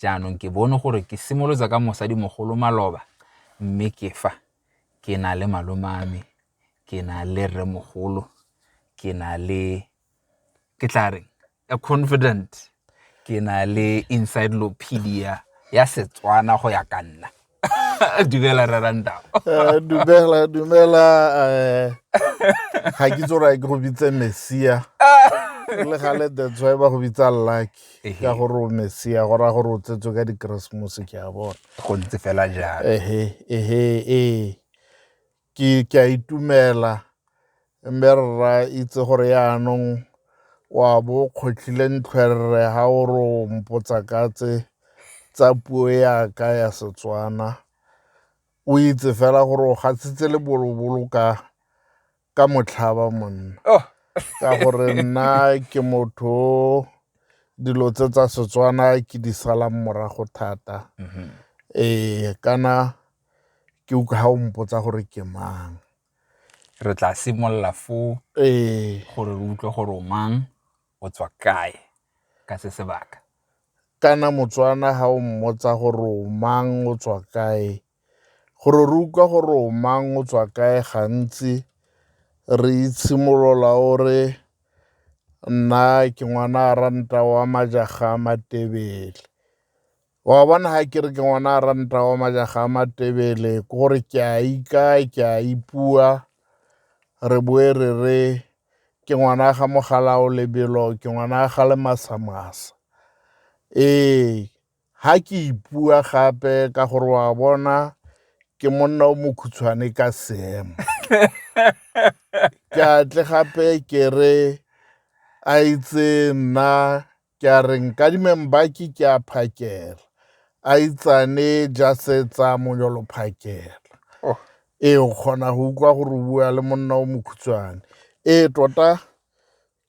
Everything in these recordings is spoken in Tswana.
Jaanong ke bone gore ke simolotsa ka mosadimogolo maloba mme ke fa ke na le malomame ke na le rremogolo ke na le ke tla reng a confident ke na le encyclopedia ya setswana go ya ka nna dumela rra rantao Eh, dumela dumela eh, ga ke itse gore ke go bitse messia le gale that's why ba go bitsa lucky Ehe. ka gore o messia go raya gore o tsetswe ka dikeresemose ke a bona go ntse fela jalo ehe ehe ee Ke a itumela, Mme Rra itse gore yaanong o a bo o kgotlhile ntlhwerere ha o re o mpotsa ka tse tsa puo ya ka ya Setswana. O itse fela gore o gatsitse lebolobolo ka ka motlhaba monna, ka gore nna ke motho o dilo tse tsa Setswana ke di salang morago thata. Ee, kana ke utlwa ha o mpotsa gore ke mang re tla simolola fo ee gore re utlwe gore o mang o tswa kae ka se sebaka kana motswana ha o mmotsa gore o mang o tswa kae gore re utlwa gore o mang o tswa kae gantsi re itshimolola o re nna ke ngwana a ranta wa majaga a matebele wa bona ga ke re ke ngwana a ranta wa majaga a matebele ke gore ke a ikae ke a ipua re boe re re ke ngwana ga mogalao lebelo ke ngwana ga le masamasa ee ga ke ipua gape ka gore wa bona ke monna o mokhutshwane ka seemo ke atle gape ke re a itse nna Ke a re nkadimeng baki ke a phakela. A itsane jasetsa monyolo phakela. Oh. Ee, o kgona go utlwa gore o bua le monna o mokhutshwane. Ee, tota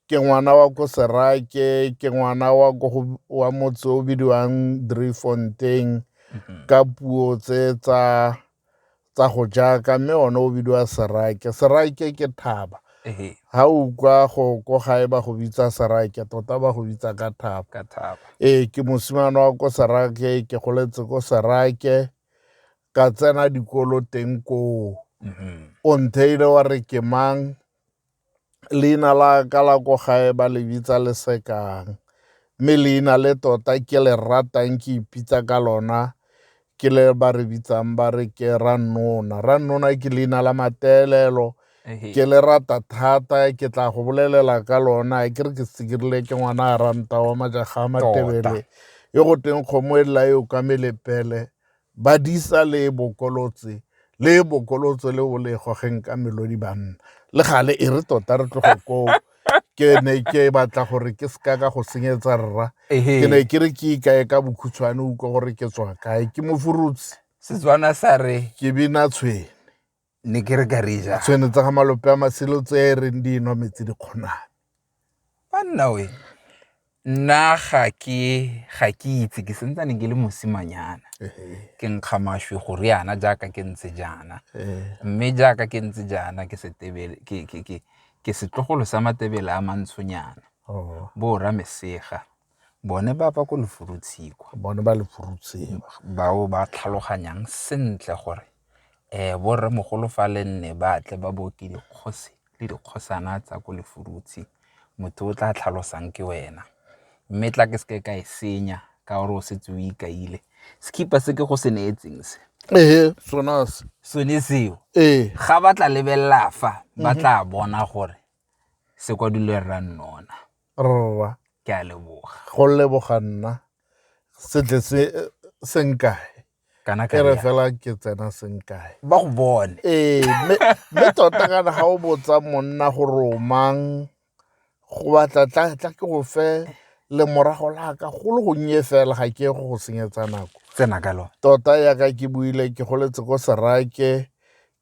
ke ngwana wa ko serake ke ngwana wa ko wa motse o bidiwang dreyfontein mm-hmm. ka puo tse tsa tsa go jaaka mme one o bidiwa serake serake ke thaba ha o kwa go ko gae ba go bitsa serake tota ba go bitsa ka thaba ee ke mosimane wa ko serake ke goletse ko serake ka tsena dikolo teng koo mm-hmm. o ntheile wa re ke mang leina la ka la ko gae ba le bitsa lesekang mme leina le tota ke le ratang ke ipitsa ka lona ke le ba re bitsang ba re ke rannona rannona ke leina la matelelo ke le rata thata ke tla go bolelela ka lona ke re ke sekirile ke ngwana a ranta wa majaga a matebele yo go teng kgomo e lela yo ka melepele Badisa le bokolotse le bokolotso le o le gogeng ka melodi banna le gale e re tota re tlogo koo ke ne ke batla gore ke seka ka go senyetsa rra ke ne ke re ke ikae ka bokhutshwane utlwa gore ke tswa kae ke mofurutsi setswana sa re ke bina tshwene ne ke re ka re ja tshwene tsa ga malope a masilo tse e reng di nwa metsi di kgonang banna we nna ga ke ga ke itse ke sentsane ke le mosimanyana ke nkga maswi go riana jaaka ke ntse jaana mme jaaka ke ntse jaana ke setebele ke ke ke ke setlogolo sa matebele a mantshonyana oh. bo ra mesega bone ba ba ko Lefurutshikwa bone ba Lefurutshikwa bao ba tlhaloganyang sentle gore eh bo rremogolo fa le nne ba tle ba boke dikgosi le dikgosana tsa ko Lefurutshi motho o tla tlhalosang ke wena mme tla ke seke ka e senya ka gore o setse o ikaile sekipa se ke go se neetseng se ee sona se sone seo ee ga ba tla lebelela fa ba mhm. tla bona gore se kwadilwe rra nnona Rra. Ke a leboga. Go leboga nna setle se senkae. Kana ka re fela ke tsena senkae. Ba go bone. Ee, mme tota kana ga o botsa monna go romang go batla tla tla ke go fe le morago la ka go le gonnye fela ga ke go go senyetsa nako. Tsena ka lone. Tota ya ka ke buile ke goletse ko serake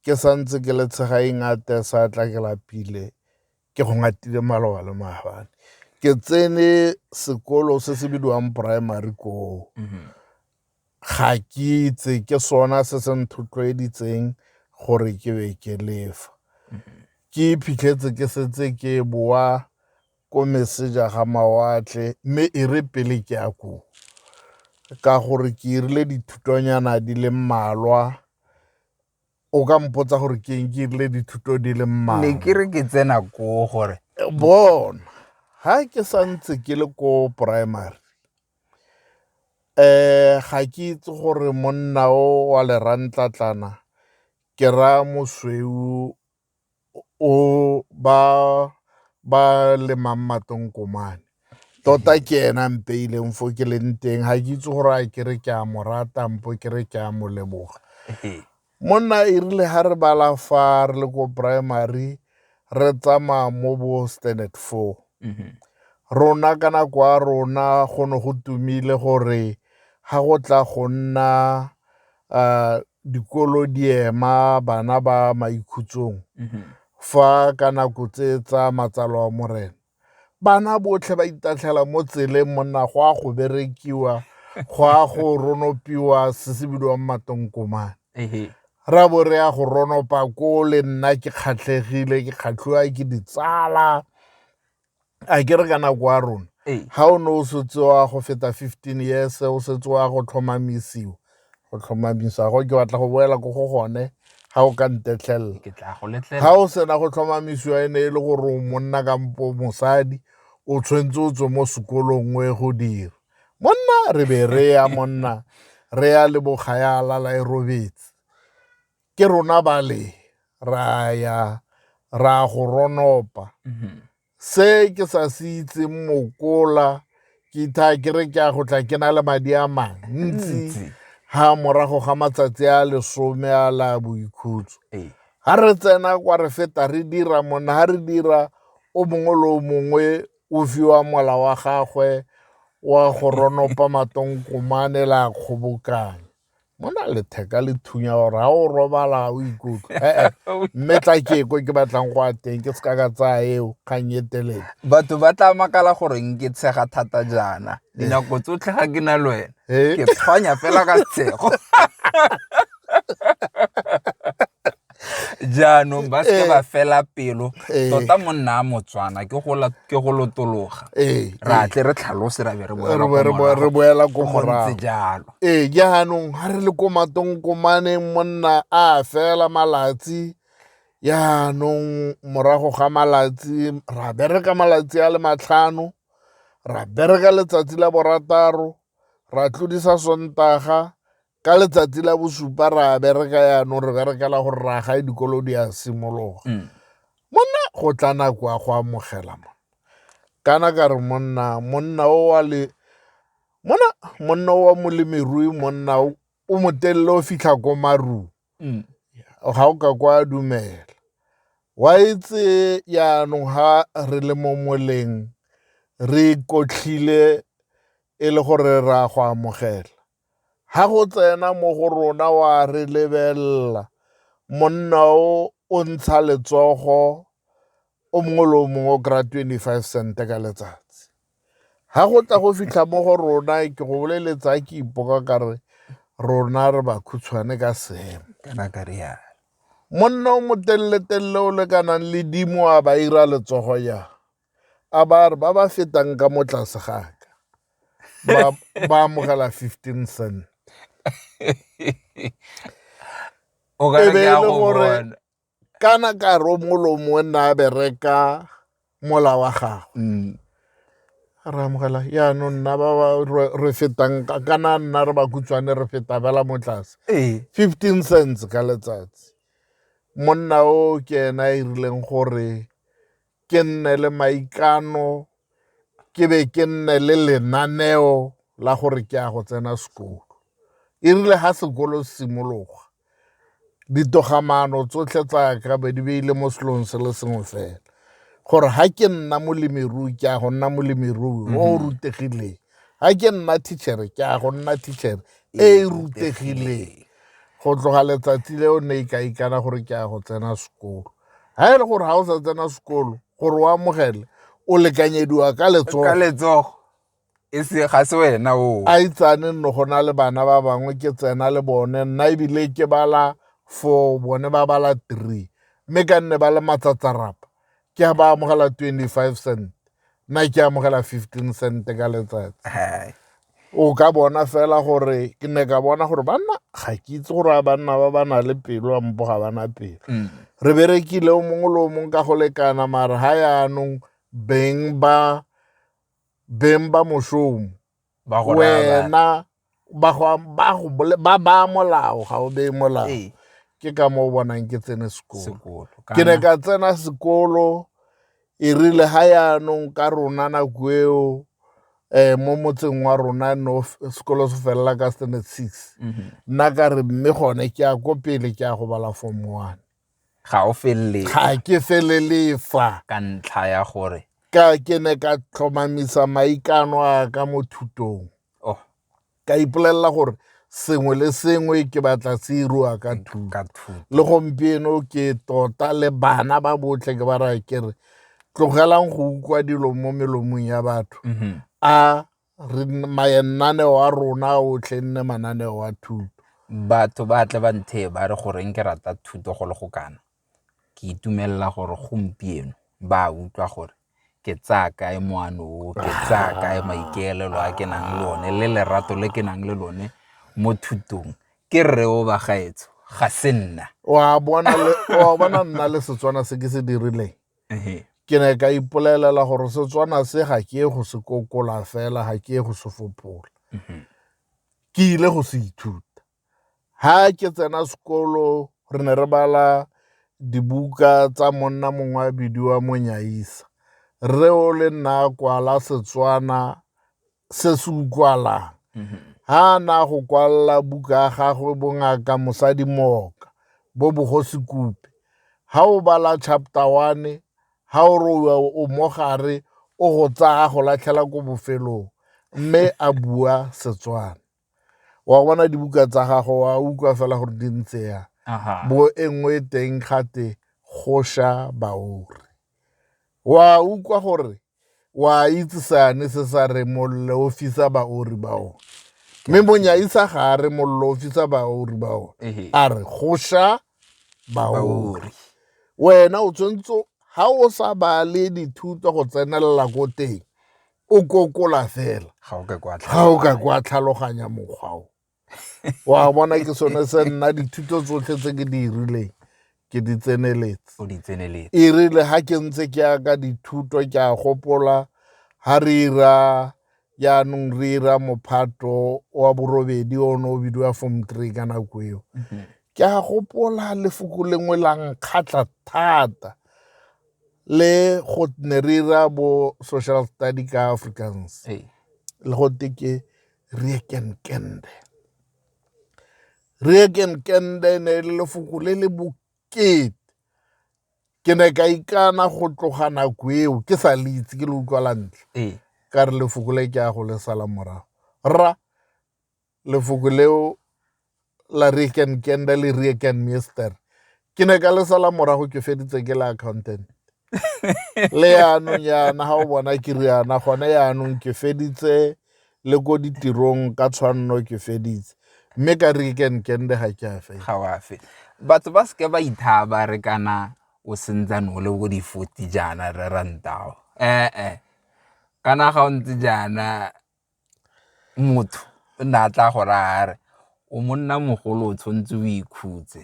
ke santse ke le tshegaeng a te sa tla ke lapile. ke go ngatile maloba le maabane ke tsene sekolo se se bidiwang primary koo mhm. ga ke itse ke sona se se nthotloeditseng gore ke be ke lefa mhm. ke iphitlhetse ke setse ke boa ko meseja ga mawatle mme e re pele ke ya koo ka gore ke irile dithutonyana di le mmalwa o ka mpotsa gore ke eng ke irile dithuto di le mmaa ne ke re ke tsena ko gore bona ha ke sa ntse ke le ko primary um ga ke itse gore monna o wa lerantlatlana ke raya mosweu o ba ba lemang matonkomane tota ke ena mpeileng fo ke leng teng ga ke itse gore a kere ke a mo rata mpo ke re ke a mo leboga monna e rile ga re bala fa re le ko primary re tsamaya mo bo standard four mm-hmm. rona ka nako ya rona go ne go tumile gore ga go tla go nna a dikolo di ema bana ba maikhutsong mhm. fa ka nako tse tsa matsalo a morena bana botlhe ba itatlhela mo tseleng monna go a go berekiwa go a go ronopiwa se se bidiwang matonkomane ra bo re ya go ronopa ko le nna ke kgatlhegile ke kgatlhiwa ke ditsala a ke re ka nako ya rona ga o ne o setse wa go feta fifteen years o setse wa go tlhomamisiwa go tlhomamisa go ke batla go boela ko go gone ga o ka ntetlhelela ga o sena go tlhomamisiwa e ne e le gore o monna kampo mosadi o tshwanetse o tswe mo sekolong o e go dira monna re be re ya monna re ya le bokgaya a lala e robetse ke rona ba le ra ya ra go ronopa mhm. se ke sa se itseng mokola ke itha ke re ke a go tla ke na le madi a mantsi ha morago ga matsatsi a lesome a la boikhutso ee. ha re tsena kwa re feta re dira monna ha re dira o mongwe le o mongwe o fiwa mola wa gagwe wa go ronopa matonkomane la kgobokanya mo na letheka le thunya gore ga o robala o ikutlwa ee mme tla ke ko ke batlang go a teng ke seka ka tsaya eo kgang e telele batho ba tla makala gore nke tshega thata jaana dinako tsotlhe ga ke na le wena ke tshwanya fela ka tshego jaanong ba seke ba eh. fela pelo eh. tota monna a motswana ke go lotologa eh. ra tle re tlhalose ra be re boela ko morago jalo ee jaanong ga re le ko matong komaneng monna a fela malatsi jaanong morago ga malatsi ra bereka malatsi a le matlhano ra bereka letsatsi la borataro ra tlodisa sontaga ka letsatsi la bosupa ra bereka yaanong re berekela gore ra gae dikolo di a simologa mm. monna go tla nako ya go amogela mona kana ka re monna monna o wa le mona monna o wa molemirui monna o motelele o fitlha ko marung mm. ga o ka kwa dumela wa etse yaanong ga re le mo moleng re kotlhile e le gore ra go amogela Ha go tsena mo go rona wa re lebelela, monna o o ntsha letsogo o mongwe le o mongwe o kry-a twenty-five cent ka letsatsi. Ha go tla go fitlha mo go rona ke go boleletsa ke ipoka ka re rona re ba khutshwane ka seemo, kana ka rialo. Monna o motelele-telele o lekanang le dimo a ba ira letsogo jang. a ba re ba ba fetang ka mo tlase ga ka ba- ba amogela 15 cent o ka E re be ke e a le go gore- bona kana ka romolomo o nna a bereka mola wa gago Mm. re amogela yaanong nna ba ba re- re fetang ka- kana nna re ba kutswane re feta bela mo tlase ee 15 cents ka letsatsi monna o ke ena a irileng gore ke nne le maikano ke be ke nne le lenaneo la gore ke ya go tsena sekolo e rile ga sekolo se simologa ditogamano tsotlhe tsa ka be di beile mo selong se le sengwe fela gore ga ke nna molemirui ke ya go nna molemirui o o mhm. rutegileng ga ke nna tichere ke ya go nna tichere e e rutegileng go tloga letsatsi leo ne e ka ikana gore ke ya go tsena sekolo ga e le gore ga o sa tsena sekolo gore o amogele o lekanyediwa ka letsogo e se ga se wena o a itsane nno go na le bana ba bangwe ke tsena le bone nna ebile ke bala four bone ba bala three mme ka nne ba le matsatsarapa ke ba amogela twenty-five cent nna ke amogela fifteen cent ka letsatsi o ka bona fela gore ke ne ka bona gore banna ga ke itse gore a banna ba ba na le pelo a mpo ga ba na pelo mm. re berekile o mongwe le o mongwe ka go lekana mare ga yaanong beng ba beng ba mošomo wena ba ba molao ga o bee molao ee. ke ka mo o bonang ke tsene sekolo ke ne ka tsena sekolo E rile ga yaanong ka rona nako eo eh mo motseng wa rona no sekolo se felela ka standard six mhm. nna ka re mme gone ke ya ko pele ke ya go bala form one ga o felele ga ke felele fa ka ntlha ya gore ka ke ne ka tlhomamisa maikano a ka mo thutong ka ipolelela gore sengwe le sengwe ke batla se iriwa ka thuto le gompieno ke tota le bana ba botlhe ke ba raya ke re tlogelang go ukwa dilo mo melomong ya batho mhm. a re mananeo a rona otlhe nne mananeo a thuto batho ba tle ba nthe ba re goreng ke rata thuto go le go kana ke itumelela gore gompieno ba utlwa gore ke tsaya kae moano o ke tsaya kae maikaelelo a ke nang le one le lerato le ke nang le lone mo thutong ke rre o bagaetso ga se nna wa bona nna le setswana se ke se dirileng ke ne ka ipolelela gore setswana se ga ke go se kokola fela ga ke go se fopola mhm. ke ile go se ithuta Fa ke tsena sekolo re ne re bala dibuka tsa monna mongwe a bidiwa Monyaisa. Rre o le nna a kwala Setswana se se utlwalang. Mhm. Ha a na go kwalla buka ya gagwe bongaka mosadi mooka bo bogosi kupe. Ha o bala chapter one, ha o re o mogare o go tsaya go latlhela ko bofelong mme a bua Setswana. wa bona dibuka tsa gago wa utlwa fela gore di ntse ya bo e nngwe teng gate go sha baori wa utlwa gore wa itse sane se sa re mollo o fisa baori ba one mme monyaisa ga a re mollo o fisa baori ba one a re go sha baori wena o tshwanetse ga o sa bale dithuto go tsenelela ko teng o kokola fela ga o ka kwa tlhaloganya mokgwa o wa bona ke sone se nna dithuto tsotlhe tse ke di rileng ke di tseneletse e rile ga ke ntse ke ya ka dithuto ke a gopola ga re ira jaanong re ira mophato wa borobedi o ne o bidiwa form three ka nako eo mhm. ke a gopola lefoko lengwe la nkgatlha thata le go ne re ira bo social study ka africans le go te ke riekenkende riekenkende ne e le lefoko le le bokete ke ne ka ikana go tloga nako eo ke sa le itse ke le utlwa la ntlha ka re lefoko le ke ya go le sala morago rra lefoko leo la rieken kenda le rieken mister ke ne ka le sala morago ke feditse ke le accountant le yaanong yana ga o bona ke riana gone yaanong ke feditse le ko ditirong ka tshwanno ke feditse mme ka rieken kende ga ke afe ga o afe batho ba seke ba ithaba re kana o sentsane o le ko di-forty jaana re rantao ee kana ga o ntse jaana Motho o ne a tla go raya a re, o monna mogolo o tshwanetse o ikhutse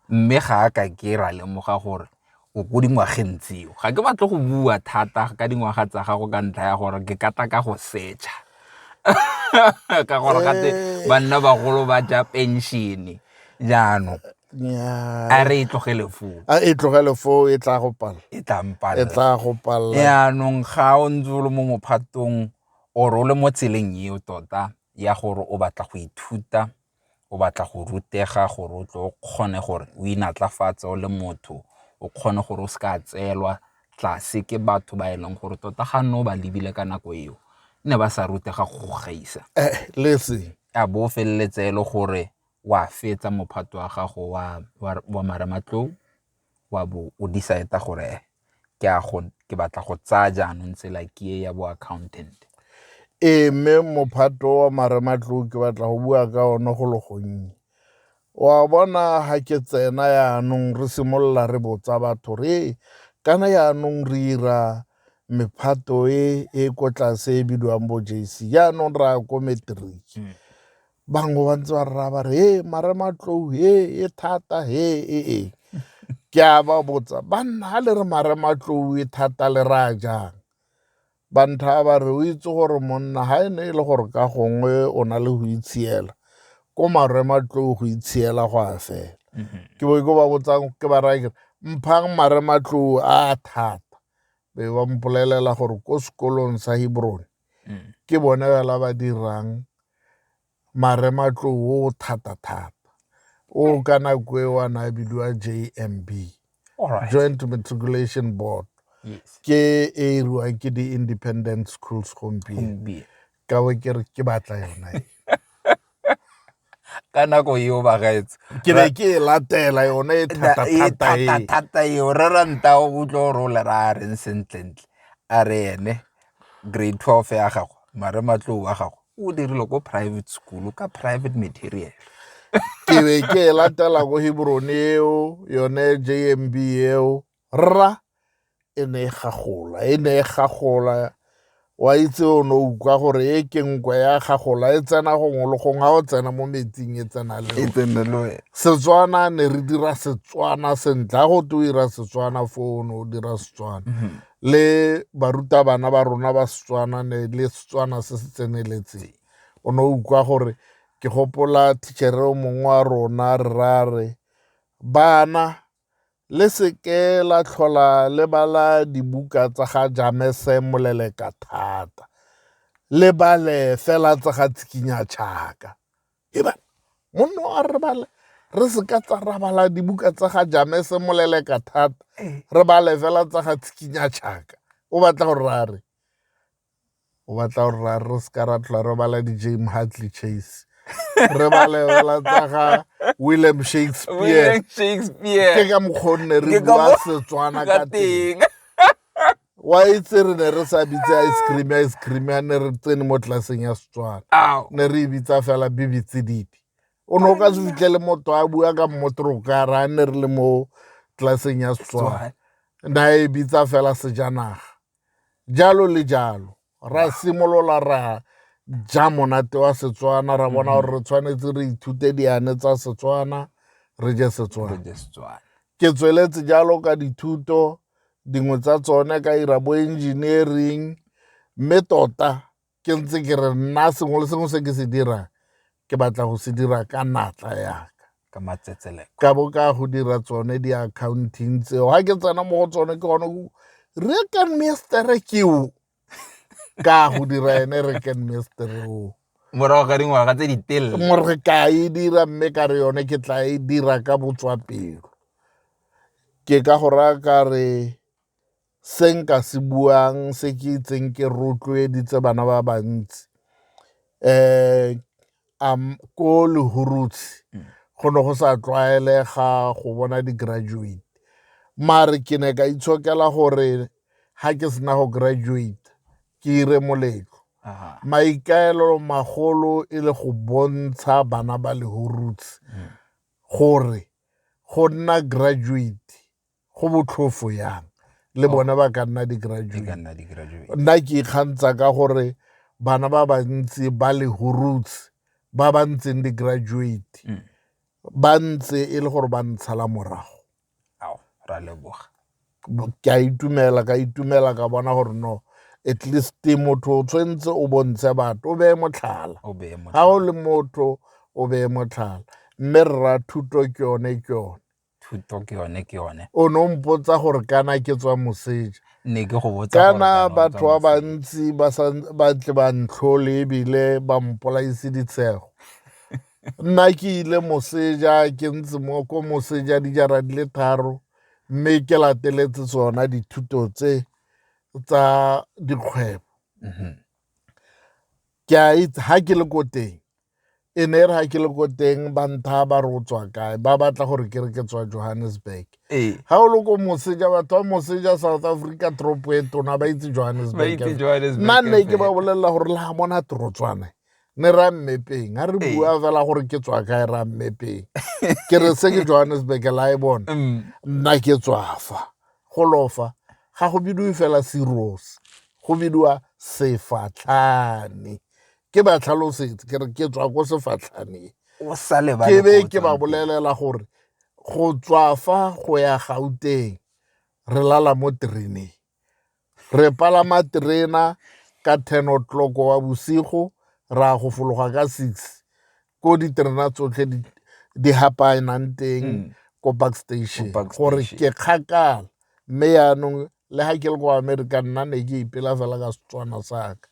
mme ga a ka ke ra lemoga gore o ko dingwageng tseo. Ga ke batle go bua thata ka dingwaga tsa gago ka ntlha ya gore ke ka tla ka go search-a ka gore gate banna bagolo ba ja pension-e jaanong. a re e tlogele foo a e tlogele foo e tla go pala e tla mpala e tla go pala yaanong ga o ntse o le mo mophatong or o le mo tseleng eo tota ya gore o batla go ithuta o batla go rutega gore o tle o kgone gore o inatlafatse o le motho o kgone gore o se ka tseelwa tlase ke batho ba e leng gore tota ga nne o ba lebile ka nako eo ne ba sa rutega go gaisa eh, a bo feleletse e le gore wa fetsa mophato wa gago wa marematlou wa bo o decide-a gore ke batla go tsaya jaanong tsela ke e ya bo accountant. Ee, mme mophato wa marematlou ke batla go bua ka one go le gonnye. Wa bona ga ke tsena yaanong re simolola re botsa batho re kana yaanong re ira mephato e e ko tlase e bidiwang bo JC yaanong re ya ko matric. Hmm. bangwe ba ntse ba rra ba re he mare matlou he e thata he e e ke a ba botsa banna ga le re mare matlou e thata le ra jang bantha ba re o itse gore monna ga e ne e le gore ka gongwe o na le go itshiela ko marwe matlou go itshiela go a fela mhm. ke bo ke ba botsang ke ba rake mphang mare matlou a thata be ba mpolelela gore ko sekolong sa hebrone mm. ke bone fela ba dirang marematloo o thata thata o eh. ka nako e wa na bidiwa jmb right. joint matriculation board yes. ke e iriwang ke di-independent schools gompieno ka bo ke re ke batla yona e. ka nako eo bagaetse ke be ke e latela yone e thata-thata eo re ranta o utlwe gore o le ra a reng sentlentle a re ene grade twelve ya gago mare matlou wa gago o dirile ko private school ka private material ke be ke e latela ko hebrone eo yone jmb eo Rra e ne e gagola, e ne e gagola, wa itse o ne o utlwa gore e ke nkwe ya gagola e tsena gongwe le gongwe ga o tsena mo metsing e tsena le e tsene le wena setswana ne re dira setswana sentle ga go te o dira setswana fo o ne o dira setswana mhm. le barutabana ba rona ba setswana ne le setswana se se tseneletseng o ne o utlwa gore ke gopola tichere o mongwe wa rona re ra re bana le se ke la tlhola le bala dibuka tsa ga jamese moleleka thata le bale fela tsa ga tshikinya tšhaka eba monno a re bale re se ka tsa ra bala dibuka tsa ga jamese moleleka thata eh. re bale fela tsa ga tshikinya tšhaka o batla gore ra re o batla gore re se ka ra tlhola re bala di-jame hartley chase re balebala tsa ga william shakespeare ke ka mokgwa o nne re bua setswana ka teng wa itse re ne re sa bitse ice cream ice cream ya ne re tsene mo tlelaseng ya setswana ne re e bitsa fela bibitsedidi o ne o ka se fitlhele motho a bua ka mmotorokara a ne re le mo tlelaseng ya setswana na e bitsa fela sejanaga jalo le jalo ra simolola ra ja monate wa setswana ra bona gore re tshwanetse re ithute diane tsa setswana re je setswana Re je Setswana. ke tsweletse jalo ka dithuto dingwe tsa tsone ka ira bo engineering mme tota ke ntse ke re nna sengwe le sengwe se ke se dirang ke batla go se dira ka natla yaka ka matsetseleko ka bo ka go dira tsone di-accounting tseo ga ke tsena mo go tsone ke gone re ka mestere keo ka go dira ene re ka mestere o morago ga dingwaga tse di telele more ka e dira mme ka re yone ke tla e dira ka botswapelo ke ka go raya ka re se nka se buang se ke itseng ke rotloeditse bana ba bantsi um ko lehurutshe mm. go ne go sa tlwaelega go bona di-graduate mare ke ne ka itshokela gore ga ke sena go graduate ke ire moletlo maikaelelo magolo e le go bontsha bana ba lehurutshe mm. gore go nna graduate go botlhofo yang le oh. bona ba ka nna di-graduate nna ke ikgantsa ka gore bana ba bantsi ba le horoots ba ba ntseng di-graduate mm. ba ntse e le gore ba ntshala morago ra leboga ke a itumela ka itumela ka bona gore no at least motho o tshwanetse o bontshe batho o beye motlhala ga o le motho o beye motlhala mme rra thuto ke yone ke yone thuto ke yone ke yone o ne o mpotsa gore kana ke tswa moseja ne ke go botsa kana batho ba bantsi ba ba tle ba ntlhole ebile ba mpolaise ditshego nna ke ile moseja ke ntse mo ko moseja dijara di le tharo mme ke lateletse tsona dithuto tse tsa dikgwebo mhm. ke a itse ha ke le ko teng e ne re ha ke le ko teng ba ntha ba re o tswa kae ba batla gore ke re ke tswa johannesburg ee. ga o le ko moseja batho ba moseja south africa tropo e tona ba itse johannesburg nna nne ke ba bolelela gore le ga mona torotswane ne ra mmepeng ga re ee. bua fela gore ke tswa kae ra mmepeng ke re se ke johannesburg la e bona mm. nna ke tswafa Go lofa ga go bidiwe fela cirrhosis, go bidiwa sefatlhane. Ke ba tlhalosetse ke re ke tswa ko sefatlhaneng. O sa lebale Ke be ko o ke ba tswang teng. bolelela gore go tswa fa go ya Gauteng re lala mo tereneng. Re palama terena ka ten o'clock wa bosigo ra go fologa ka six. ko diterena tsotlhe di hapaenang teng mm. ko back station gore ke kgakala mme yaanong le ga ke le ko america nna ne ke ipela fela ka setswana saka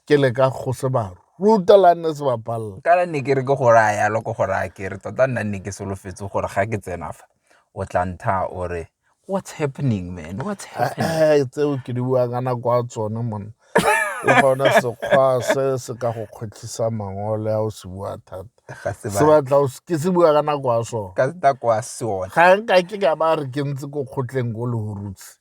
ke le ka go se baro ruta la nne se bapalela kana ne ke re ke go raya yalo ko go raya ke re tota nna nne ke solofetse gore ga ke tsena fa o tla ntha ore what's happening man what's eh, happening eh tseo ke di bua kana kwa tsone mona le gona sekgwa se se ka go kgwetlhisa mangole a o se bua thata se batla ke se bua ka nako ya sone ka nako ya sone ga nka ke ka ba re ke ntse ko kgotleng ko lehurutse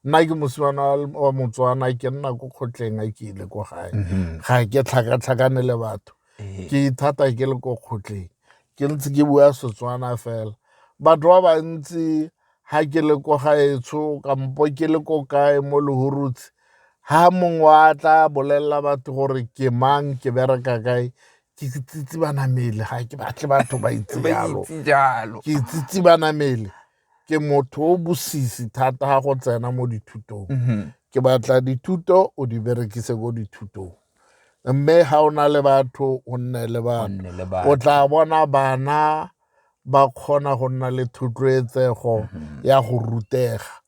nna ke mosimana wa motswana ke nna ko kgotleng a ke ile ko gae mhm. ga ke tlhakatlhakane le batho eh. ke ithata ke le ko kgotleng ke ntse ke bua setswana fela batho ba bantsi ha ke le ko gaetsho kampo ke le ko kae mo lehurutse ha mongwe wa tla bolelela batho gore ke mang ke bereka kae ke tsitsi banamele ga ke batle batho ba itse jalo ke tsitsi banamele ke motho o bosisi thata ga go tsena mo dithutong mhm. ke batla dithuto o di berekise ko dithutong mme ga o na le batho o nne le bana o tla bona bana ba kgona go nna le thotloetsego mm-hmm. ya go rutega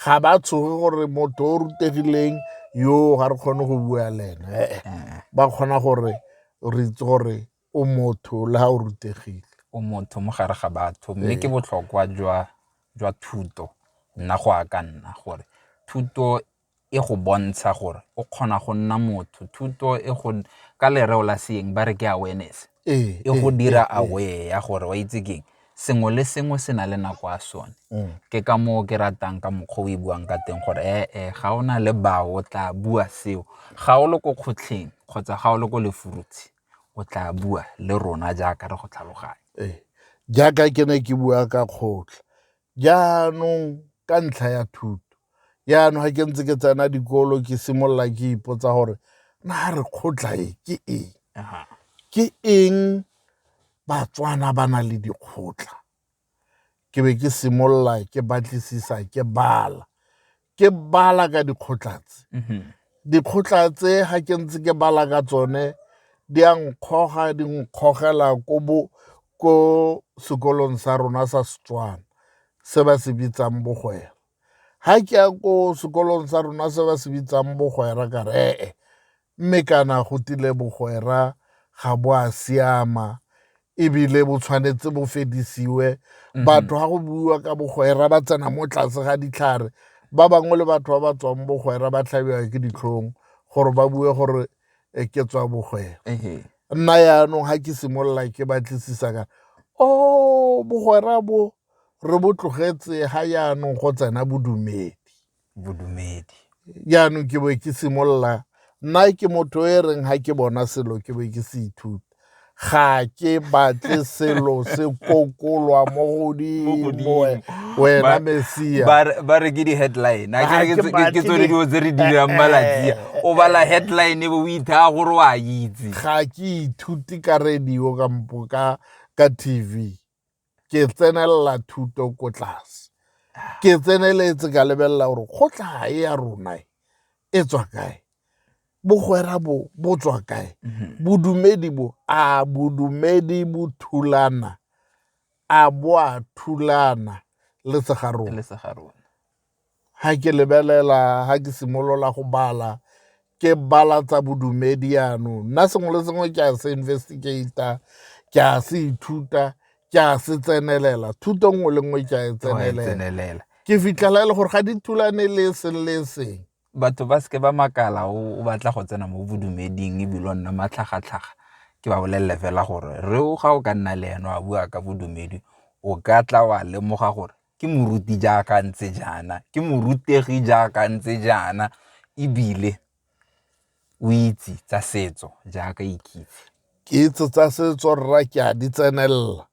ga ba tshoge gore motho o rutegileng yo ga re kgone go bua le ene eh, eh. ba kgona gore re itse gore o motho le ga o rutegile o motho mo gare ga batho mme ke eh. botlhokwa jwa thuto nna go a ka nna gore thuto e go bontsha gore o kgona go nna motho thuto e go ka lereo la seeng ba re ke awareness e go dira aware ya gore wa itse keng sengwe le sengwe se na le nako ya sone mm. ke ka moo ke ratang ka mokgwa o e buang ka teng gore ee eh, eh, ga o na le bao o tla bua seo ga o le ko kgotlheng kgotsa ga o le ko lefurutshi o tla bua le rona jaaka re go tlhaloganya ee. jaaka ke ne ke bua ka kgotlha Jaanong ka ntlha ya thuto, jaanong ga ke ntse ke tsena dikolo ke simolola ke ipotsa gore na re kgotla e ke eng ke eng batswana ba na le dikgotla ke be ke simolola ke batlisisa ke bala ke bala ka dikgotla tse mm-hmm. dikgotla tse ga ke ntse ke bala ka tsone di a nkgoga di nkgogela ko bo ko sekolong sa rona sa setswana se ba se bitsang bogwera ga ke ya ko sekolong sa rona se ba se bitsang bogwera ka ree mme kana go tile bogwera ga bo a siama ebile bo tshwanetse bo fedisiwe mhm. batho ga go buiwa ka bogwera ba tsena mo tlase ga ditlhare ba bangwe le batho ba ba tswang bogwera ba tlhabiwa ke ditlhong gore ba bue gore e ke tswa bogwera nna yaanong ga ke simolola ke batlisisa kana o oh, bogwera bo re bo tlogetse ga yaanong go tsena bodumedi bodumedi. Jaanong ke bo ke simolola nna ke motho e reng ga ke bona selo ke bo ke se ithuta ga ke batle selo se kokolwa mo godimo wena mesia ba re ke di-headline a kere ke tsone dilo tse re dirang malatia o bala headline e bo o ithaya gore o a itse ga ke ithute ka radio kampo ka ka tv ke tsenelela thuto ko tlase ke tseneletse ka lebelela gore kgotla e ya rona e, e tswa kae bogwera bo bo tswa kae mhm. bodumedi bo a bodumedi bo thulana a bo a thulana le segarona Ga ke lebelela ga ke simolola go bala ke bala tsa bodumedi yanong, nna sengwe le sengwe ke a se investigate-a, ke a se ithuta, ke a se tsenelela, thuto nngwe le nngwe ke a e tsenelela. Ke fitlhela e le gore ga di thulane le e seng le e seng. Batho ba seke ba makala o batla go tsena mo bodumeding ebile o nna matlhagatlhaga, ke ba bolelele fela gore re o ga o ka nna le ene wa bua ka bodumedi o ka tla wa lemoga gore ke moruti jaaka ntse jaana ke morutegi jaaka ntse jaana ebile o itse tsa setso jaaka ikitse kitso tsa setso rra ke a di tsenelela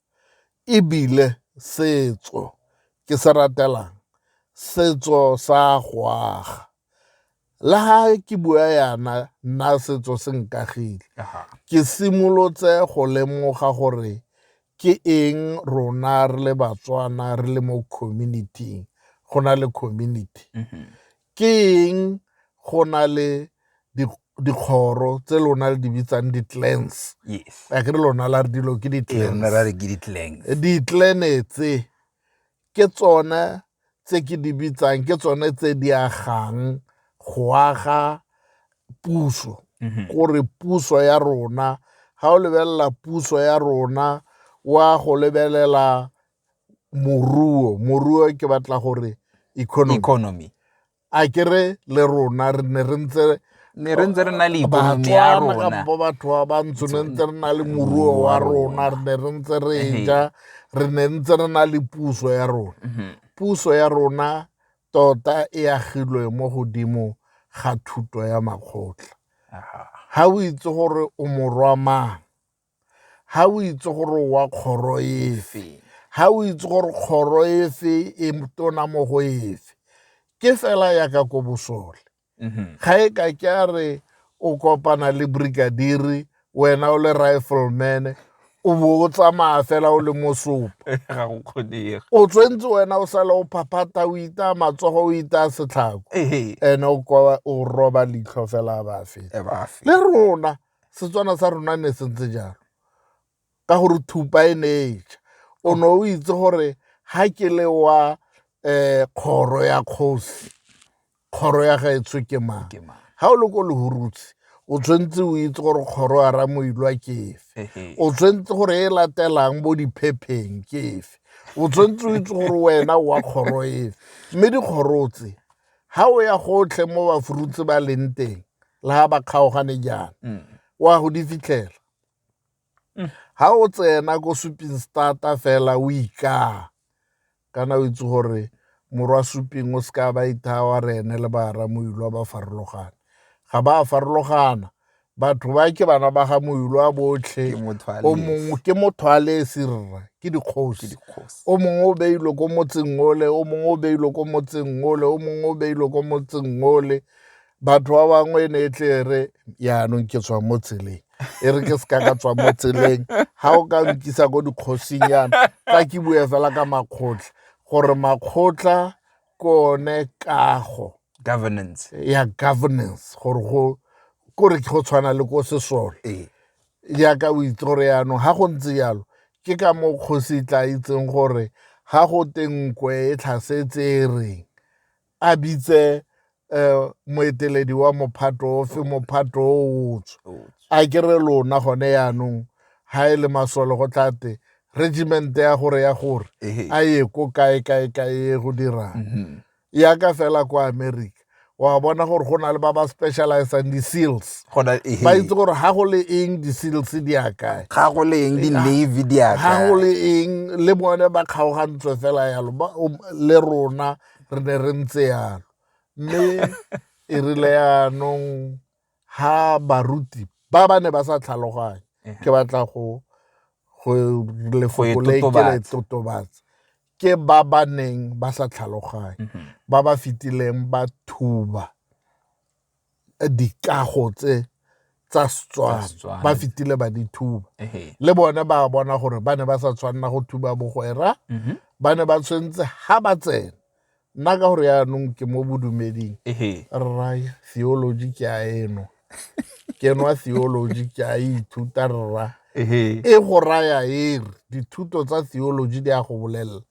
ebile setso ke se ratelang setso sa go aga le ga ke bua yana nna setso se nkagile ke simolotse go lemoga gore ke eng rona re le batswana re le mo communityng go na le community mm-hmm. ke eng go na le dikgoro tse lona le di bitsang di-clans a ke re lona la re dilo ke di-clans di-clan tse ke tsone tse ke di bitsang ke tsone tse di agang go aga puso mhm. gore puso ya rona ga o lebelela puso ya rona wa go lebelela moruo moruo ke batla gore economy a ke re le rona re ne re ntse ne re ntse re na le ikonomi ya rona kampo batho ba bantsho ne ntse re na le moruo wa rona re ne re ntse re ja re ne ntse re na le puso ya rona mhm. puso ya rona tota e agilwe mo godimo ga thuto ya makgotla ga o itse gore o morwa mang ga o itse gore o wa kgoro efe ga o itse gore kgoro efe e tona mo go efe ke fela yaka ko bosole mm-hmm. ga e ka ke a re o kopana le brigadiri wena o le rifleman o bo o tsamaya fela o le mosopo o tshwentse wena o sale o phaphata o ita matsogo o ita setlhako ene o roba leitlho fela a ba feta le rona Setswana sa rona ne se ntse jalo ka gore thupa e ne e ja o ne o itse gore ha ke le wa um kgoro ya kgosi kgoro ya gaetsho ke mang ha o le ko lehurutse o tshwanetse o itse gore kgoro ya ramoilwa ke efe o tshwanetse gore e latelang bo diphepheng ke efe o tshwanetse o itse gore wena wa kgoro efe mme dikgoro tse ha o ya gotlhe mo bafurutse ba leng teng le ha ba kgaogane jaana mm. wa go di fitlhela mm. ha o tsena ko suping starta fela o ikaa kana o itse gore morwa suping o seka ba ithaa wa re ene le baaramoilwa ba farologane ga ba farologana batho ba ke bana ba ga moilo a botlhe o mongwe ke motho a le serra ke dikgosi o mongwe o beilwe ko motseng ole o mongwe o beilwe ko motseng ole o mongwe o beilwe ko motseng ole batho ba bangwe e ne e tle re yaanong ke tswa mo tseleng e re ke se ka ka tswa mo tseleng ga o ka nkisa ko dikgosing yana ka ke bue fela ka makgotla gore makgotla ke one kago governance ya governance gore go kore go tshwana le ko sesole ee. jaaka o itse gore yaanong ga go ntse jalo ke ka mo kgosi tla itseng gore ga go tenkwe e tlhasetse e reng a bitse um moeteledi wa mophato ofe mophato o otswe a kere lona gone yaanong ga e le masole go tlate regiment ya gore ya gore a ye ko kae kae kae go dirang mhm. ya ka fela kwa america wa bona gore go na le ba ba specializang di-seals ba itse gore ga go le eng di-seals di ya kae ga go le eng di-navy di ya ga go le eng le bone ba kgaogantswe fela yalo um, le rona re ne re ntse yalo mme e rile yaanong ha baruti ba ba ne ba sa tlhaloganye ke batla go go lefoko le ke le totobatsa ke ba ba neng ba sa tlhaloganye mhm. ba ba fitileng ba thuba dikago tse tsa Setswana ba fitile ba di thuba le bone ba bona gore ba ne ba sa tshwanela go thuba bogwera mhm. ba ne ba tshwanetse ha ba tsena nna ka gore yaanong ke mo bodumeding rra theology ke a eno ke nwa theology ke a ithuta rra e go raya e re dithuto tsa theology di a go bolelela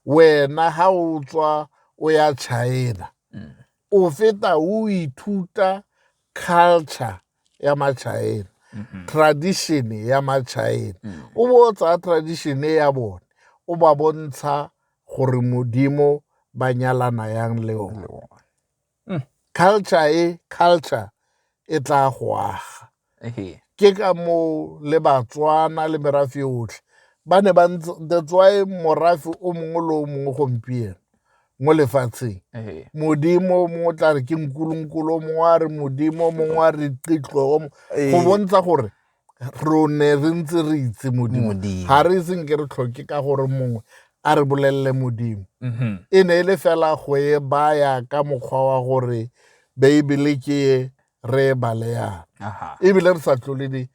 wena ha o tswa o ya china mm. o feta o ithuta culture ya machina tradition ya machina o bo o tsaya tradition ya bone o ba bontsha gore modimo ba nyalana yang le one mm. culture e culture e tla go aga ke ka moo le batswana le merafe otlhe ba ne ba that's why morafe o mongwe le o mongwe gompieno mo lefatsheng modimo mongwe o tla re ke nkulunkulu mongwe a re modimo mongwe a re qitloo go bontsha gore re ne re ntse re itse modimo ga re iseng ke re tlhoke ka gore mongwe a re bolelele modimo mm-hmm. e ne e le fela go e baya ka mokgwa wa gore beibele ke e re e baleyang ebile re sa tlole di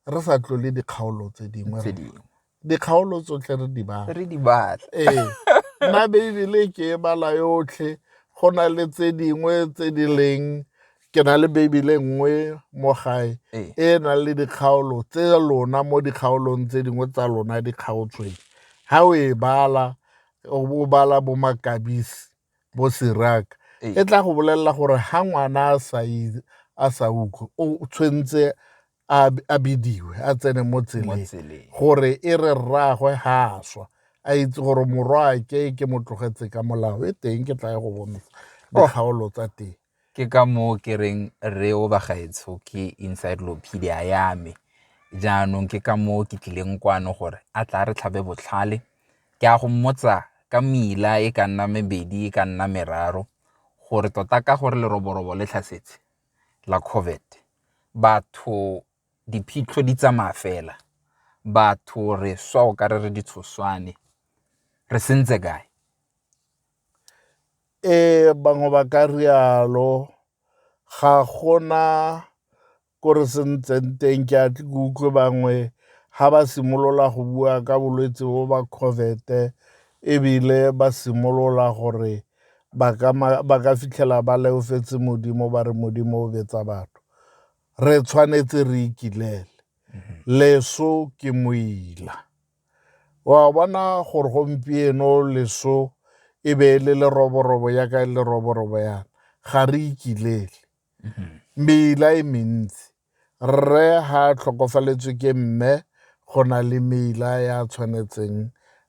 re sa tlole dikgaolo tse dingwe dikgaolo tsotlhe re di batla re di batla ee nna beibele ke e bala yotlhe go na le tse dingwe tse di leng ke na le beibele nngwe mo gae ee. e e nang le dikgaolo tse lona mo dikgaolong tse dingwe tsa lona di kgaotsweng ga o e bala o bala bo makabisi bo siraka ee. e tla go bolelela gore ga ngwana a sa utlwe o tshwanetse a b- a bidiwe a tsene mo tseleng tseleng. gore e re rraagwe ga a swa a itse gore morwaake ke mo tlogetse ka molao e teng ke tla ye go bontsha Oh. dikgaolo tsa teng ke ka moo ke reng re o bagaetsho ke encyclopedia ya me jaanong ke ka moo ke tlileng kwano gore a tla re tlhabe botlhale ke a go mmotsa ka mela e ka nna mebedi e ka nna meraro gore tota ka gore leroborobo le tlhasetse la COVID batho diphitlho di tsamaya fela, batho re swa o kare re ditshoswane, re sentse kae? Ee, bangwe ba ka rialo ga gona ko re sentseng teng ke a ke utlwe bangwe ga ba simolola go bua ka bolwetse bo ba COVID-e ebile ba simolola gore ba ka, ba ka fitlhela ba leofetse Modimo ba re Modimo o betsa batho. Re tshwanetse re ikilele. Leso ke moila. Wa bona gore gompieno leso e be e le leroborobo ya ka e leroborobo yana. Ga re ikilele. Meila e mentsi. Rre ga a tlhokofaletswe ke mme go na le meila ya a tshwanetseng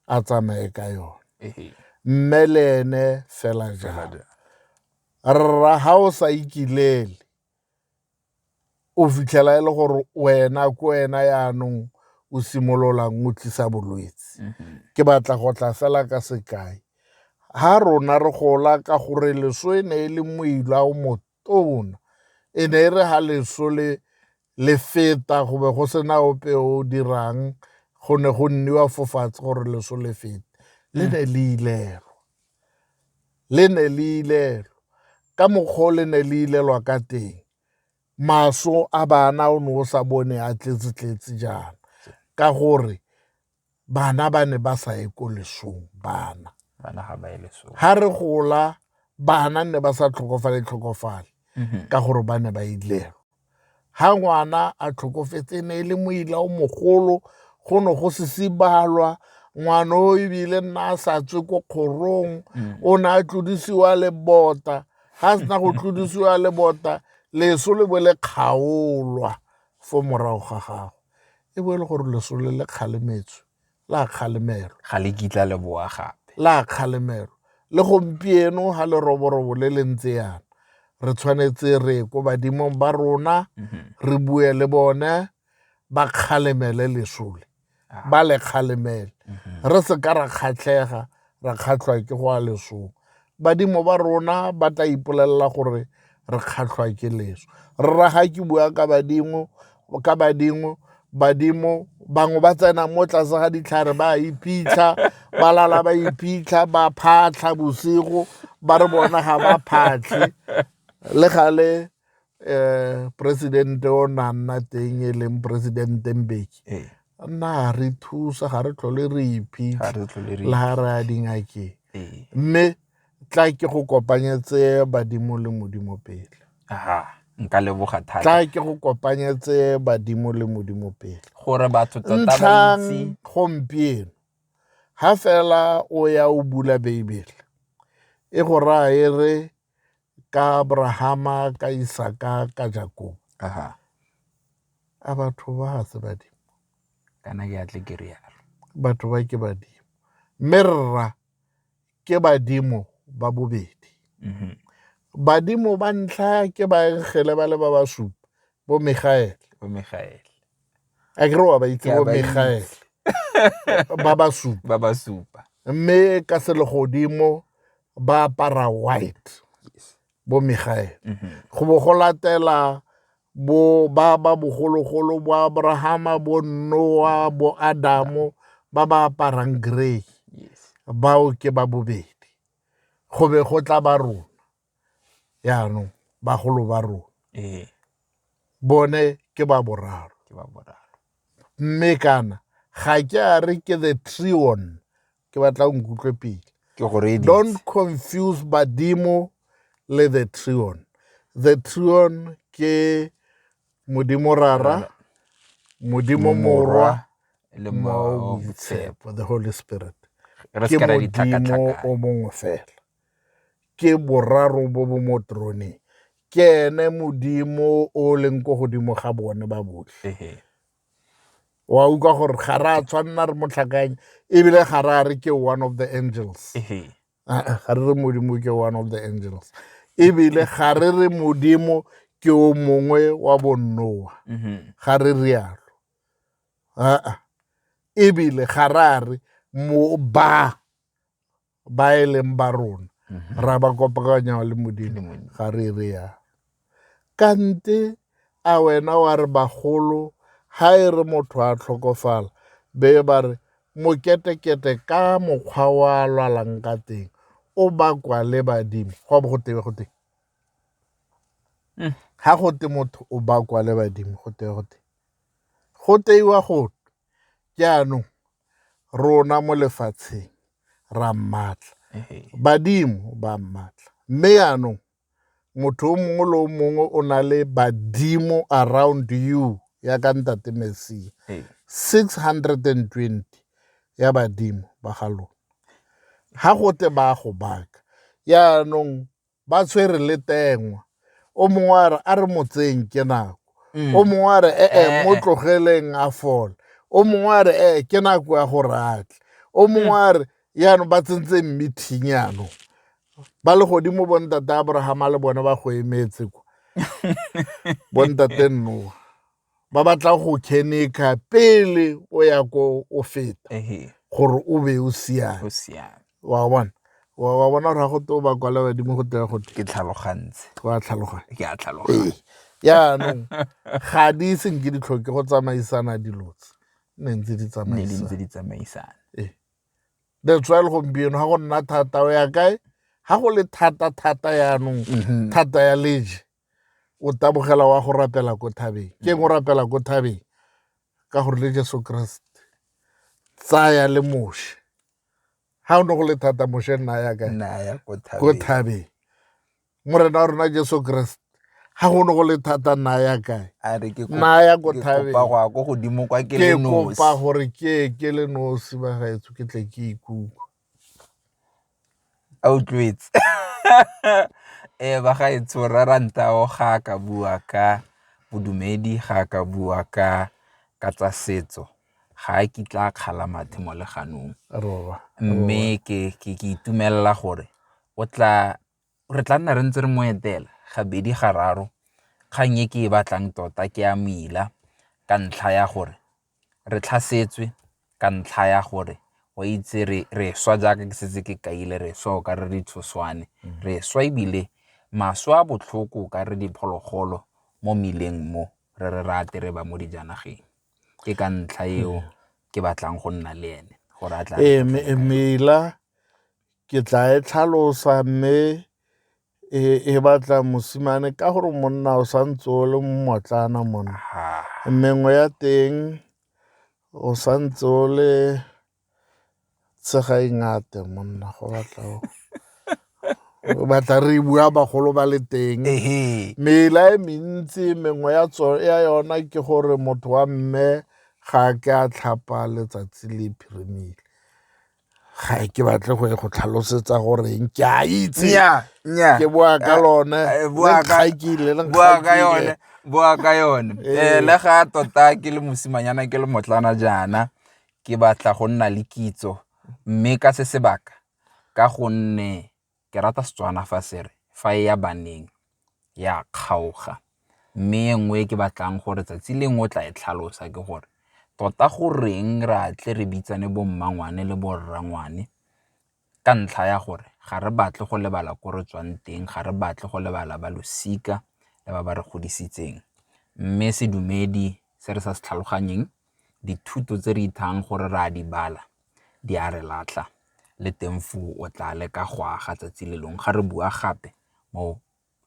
a tsamaye ka yone. Mme le ene fela jalo. Rra ga o sa ikilele o fitlhela e le gore wena ko wena yaanong o simololang o tlisa bolwetse. Ke batla go tla fela ka sekai. Ha rona re gola ka gore leso e ne e le moila o motho tona. E ne e re ga leso le le feta go be go sena ope o dirang go ne go nniwa fofatshe gore leso le fete le hmm. ne le ilelwa le ne le ilelwa ka mokgwa o le ne le ilelwa ka teng maso a bana o ne o sa bone a tletse-tletse jaana ka gore bana ba ne ba sa ye ko lesong bana bana ga ba ye lesong ha re gola bana ne ba sa tlhokofale tlhokofale mm-hmm. ka gore ba ne ba ilelo ha ngwana a tlhokofetse ne e le moila o mogolo go ne go se sibalwa ngwana o ebile nna a sa tswe ko kgorong mm. o ne a tlodisiwa le bota ga a sena go tlodisiwa le bota leso le bo le kgaolwa fo morago ga gago e bo e le gore lesole le kgalemetswe la kgalemelwa ga le kitla le boa gape la kgalemelwa le gompieno ga leroborobo le le ntse yana re tshwanetse re ko badimong ba rona mhm. re bue le bone ba kgalemele lesole ah. ba le kgalemele mhm. re se ka ra kgatlhega ra kgatlhwa ke go a lesong badimo ba rona ba tla ipolelela gore re kgatlhwa ke leso rra ga ke bua ka badimo ka badimo badimo bangwe ba tsena mo tlase ga ditlhare ba iphitlha ba lala ba iphitlha ba phatlha bosigo ba re bona ga ba phatlhe le gale um presidente o ne a nna teng e leng presidente mbeki ee. a nna a re thusa ga re tlhole re iphitlhe le ga re a dingakeng ee. mme tla ke go kopanyetse badimo le modimo pele nka leboga thata tla ke go kopanyetse badimo le modimo pele gore batho tota ba itse gompieno ha fela o ya o bula beibele e go raya e re ka abrahama ka isaka ka jakobo aha a batho ba ga se badimo kana ke atle ke rialo batho ba ke badimo mme rra ke badimo ba bobedi mhm. badimo ba ntlha ke baengele ba le ba basupa bo megaele a kere wa ba itse bo megaele ba ba supa ba ba supa mme ka selegodimo ba apara white bo megaele mhm. go bo go latela bo ba ba bogologolo bo abrahama bo noa bo adamo ba ba aparang grey bao ke ba bobedi go be go tla ba rona yaanong bagolo ba rona ee. bone ke ba boraro mme kana ga ke a re ke the trion ke batla o nkutlwe pele don't confuse badimo le the trion the trion ke modimo rara modimo morwa le motshepo the holy spirit ke modimo o mongwe fela Ke boraro bo bo mo troneng. Ke ene Modimo o leng ko godimo ga bone ba botlhe. Wa utlwa gore ga re a tshwanela re motlhakanye ebile ga re a re ke one of the angels. Ga re re Modimo ke one of the angels. Ebile ga re re Modimo ke o mongwe wa bonnoa. Ga re rialo. Ebile ga re a re mo ba ba e leng ba rona mhm. ra ba kopakanya le modimo ga re re ya kante a wena wa re bagolo ha e re motho a tlhokofala be ba re moketekete ka mokgwa wa lwalang ka teng o bakwa le badimo go bo go tebe go teng ha go te motho o bakwa le badimo go te go te go teiwa go jaanong rona mo lefatsheng ra mmatla badimo ba mmatla mme yaanong motho o mongwe le o mongwe o na le badimo around you ya ka ntate mesia 620 ya badimo ba ga lona ga gote ba go baka yaanong ba tshwere le tengwa o mongwe a re a re motseng ke nako mm. o mongwe a re ee eh, eh, mo eh. tlogeleng a fole o mongwe a re ee ke nako ya go ratle o mongwe mm. a re yaanong ba tsentse meeting yaanong ba le godimo bontate abrahama le bone ba go emetse kwa bontate nnoa ba batla go khenekha pele o ya ko o feta gore o be o siame wa bona wa bona gore ga go te o ba kwala badimo go teya gote ke tlhalogantse wa tlhaloganya ke a tlhaloganya yaanong ga di senke di tlhoke go tsamaisana dilotse ne ntse di tsamaisana ee. that's why le gompieno ga go nna thata o ya kae ga go le thata thata yaanong mhm. thata ya leje o tabogela wa go rapela ko thabeng ke eng o rapela ko thabeng ka gore le jesu keresete tsaya le moshe ga o ne go le thata moshe nna ya kae ko thabeng morena wa rona jesu keresete ga go ne go le thata nna ya kae nna ya ko thabengke kopa gore ke ke le nosi ba gaetso ke tle ke ikutlwe a utlwetse ee ba ga e tsho rra ranta o ga a ka bua ka bodumedi ga a ka bua ka ka tsa setso ga a kitla a kgala mathe mo leganong mme ke itumelela gore o tla re tla nna re ntse re mo etela gabedi ga raro, kgang e ke e batlang tota ke ya mmila ka ntlha ya gore re tlhasetswe ka ntlha ya gore o itse re swa jaaka ke setse ke kaile re swa o ka re ditshoswane mm. re swa ebile maswe a botlhoko o ka re diphologolo mo mmileng mo re re rate re ba mo dijanageng ke ka ntlha eo mm. ke batlang go nna le ene gore a tla ee, mela Ke tla e tlhalosa mme e, e batla mosimane ka gore monna o santse o le mmotlana monna mengwe ya teng o santse o le tshega ingate monna go batla batla re bua bagolo ba le teng mela e mentsi mengwe ya ya yona ke gore motho wa mme ga ke a tlhapa letsatsi le phirimile ga e ke batle go e go tlhalosetsa goreng ke a itse ke boa ka lone boa ka yone boa ka yone ee. ee le ga tota ke le mosimanyana ke le motlana jaana ke batla go nna le kitso mme ka se sebaka ka gonne ke rata Setswana fa se re fa e ya baneng e a kgaoga. Mme e nngwe e ke batlang gore tsatsi lengwe o tla e tlhalosa ke gore tota goreng re a tle re bitsane bo mmangwane le bo rrangwane ka ntlha ya gore ga re batle go lebala ko re tswang teng, ga re batle go lebala ba losika le ba ba re godisitseng. Mme sedumedi se re sa se tlhaloganyeng dithuto tse re ithayang gore re a di bala di a re latlha, le teng foo o tla leka go aga tsatsi le lengwe ga re bua gape mo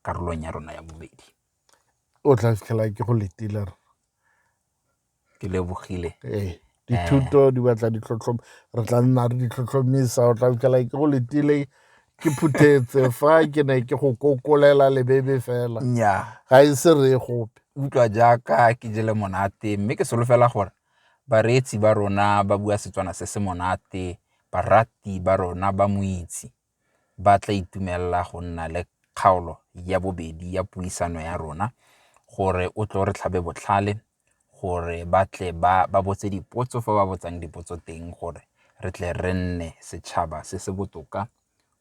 karolong ya rona ya bobedi. O tla fitlhela ke go letile rra. Ke lebogile. Ee, dithuto di batla ditlhotlhomiso, re tla nna re di tlhotlhomisa, o tla fitlhela ke go letile. ke phuthetse fa ke ne ke go kokolela lebebe fela nnyaa ga e se re gope utlwa jaaka ke jele monate mme ke solofela gore bareetsi ba rona ba bua setswana se se monate barati ba rona ba moitse ba tla itumelela go nna le kgaolo ya bobedi ya puisano ya rona gore o tlo re tlhabe botlhale gore ba tle ba botse dipotso fa ba botsang dipotso teng gore re tle re nne setšhaba se se botoka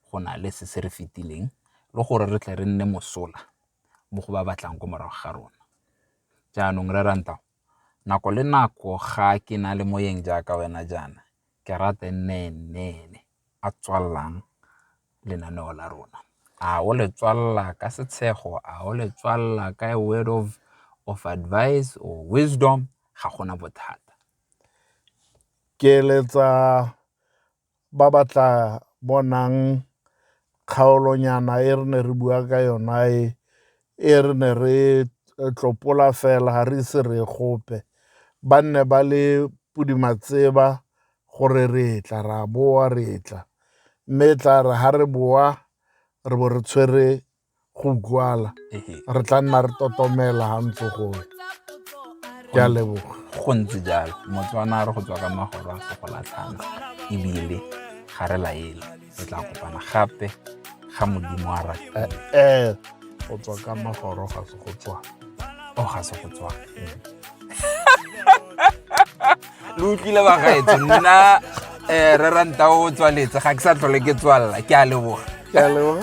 go na le se se re fetileng le gore re tle re nne mosola mo go ba ba tlang ko morago ga rona. Jaanong Rre Rantaho, nako le nako ga ke na le moeng jaaka wena jaana ke rata e nne e nne ene. a tswalelang lenaneo la rona. A o le tswalela ka setshego, a o le tswalela ka a word of advice or wisdom ga gona bothata. Ke eletsa ba ba tla bonang kgaolonyana e re ne re bua ka yona e e re ne re tlopola fela ga re ise re gope ba nne ba le pudimatseba gore re tla ra boa re tla mme e tla re ga re boa re bo re tshwere go utlwala re tla nna re totomela ga ntse goe ke a leboga go ntse jalo motswana re go tswa ka magoro a se go latlhana ebile ga re laele re tla kopana gape ga modimo a rata ee go tswa ka magoro ga se go tswa o ga se go tswa lo utlwile bagaetso nna um re ranta o tswaletse ga ke sa tlhole ke tswalela ke a leboga ke a leboga